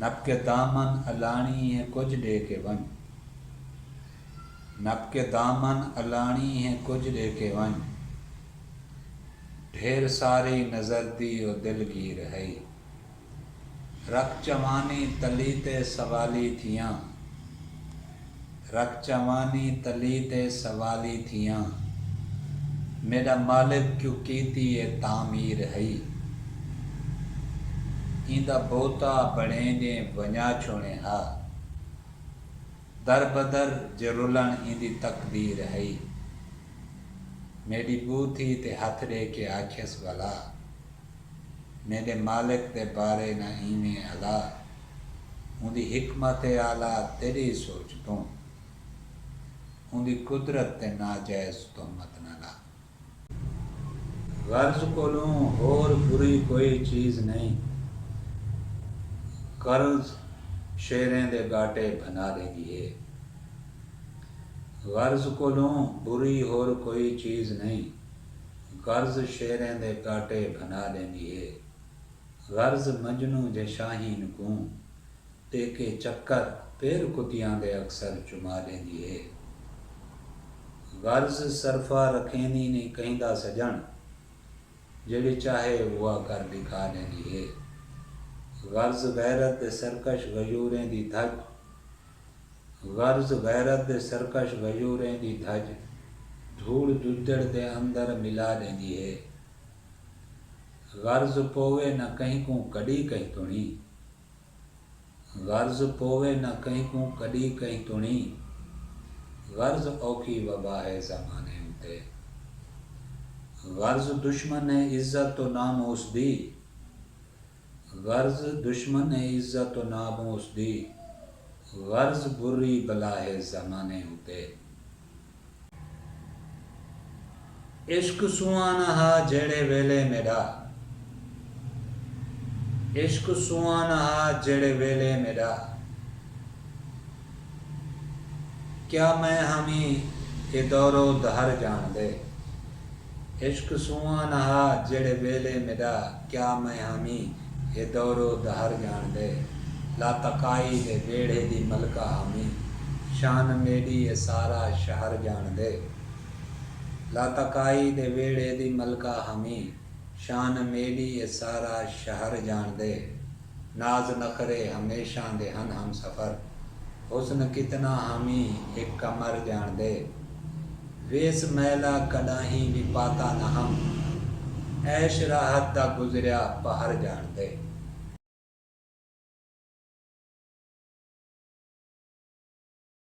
نپ کے دامن الاݨی ہے کجھ ݙے کے ونڄ۔ نپ کے دامن الاݨی ہے کجھ ݙے کے ونڄ۔ ڈھیر ساری نظر دی او دل گیر ہئی۔ رکھ چوانی تلی تے سوالی تھیاں۔ رکھ چاوانی تلی تے سوالی تھیاں۔ میݙا مالک جو کیتی اے تعمیر ہئی۔ ایندا بوتا بݨیں ڄیں ونڄا چھوݨیں ہا۔ در بدر جرلݨ ایندی تقدیر ہئی۔ میݙی ٻو تھی تے ہتھ ݙے کے آکھیس ولا! میݙے مالک دے بارے نہ ایویں الا اوندی حکمت اعلی تیݙی سوچ توں اوندی قدرت تے ناجائز تہمت نہ لا۔ غرض کولوں ہور بری کوئی چیز نئیں۔ قرض شیریں دے ڳاٹے بھنا ݙیندی ہے۔ غرض کولوں بری ہور کوئی چیز نئیں۔ غرض شیریں دے کاٹے بھنا ڈیندی ہے۔ غرض مجنوں جے شاہین کوں ٹیکے چکر پیر کتیاں دے اکثر چما ڈیندی ہے۔ غرض صرفہ رکھیندی نی کہیندا سجن جیڑھی چاہے اوہا کر ڈکھا ڈیندی ہے۔ غرض غیرت دے سرکش غیوریں دی دھج غرض غیرت دے سرکش غیوریں دی دھج دھوڑ ددڑ دے اندر ملا ڈیندی ہے۔ غرض پووے نہ کہیں کوں کڈی کہیں تنڑی۔ غرض پووے نہ کہیں کوں کڈی کہیں تنڑی۔ غرض اوکھی وبا ہے زمانے اتے۔ غرض دشمن ہے عزت و ناموس دی۔ غرض دشمن ہے عزت و ناموس دی غرض بری بلا ہے زمانے اتے۔ عشق سوہانا ہا جیڑھے ویلے میڈا عشق سوہانا ہا جیڑھے ویلے میڈا۔ کیا میں ہاویں اے دور و دہر جانڑدے۔ عشق سونہاں نہ ہا جیہڑے ویلے میڈا کیا میں ہاویں اے دور و دہر جانڑدے۔ لاتکائی دے ویڑھے دی ملکہ ہاویں شان میڈی اے سارا شہر جانڑدے۔ لاتکائی دے ویڑھے دی ملکہ ہاویں شان میڈی اے سارا شہر جانڑدے۔ ناز نخرے ہمیشاں دے ہن ہم سفر حسن کتنا حامی ہک قمر جان دے ویس میلا کڈاہیں وی پاتا نہ ہم عیش راحت دا گزریا پہر جان دے۔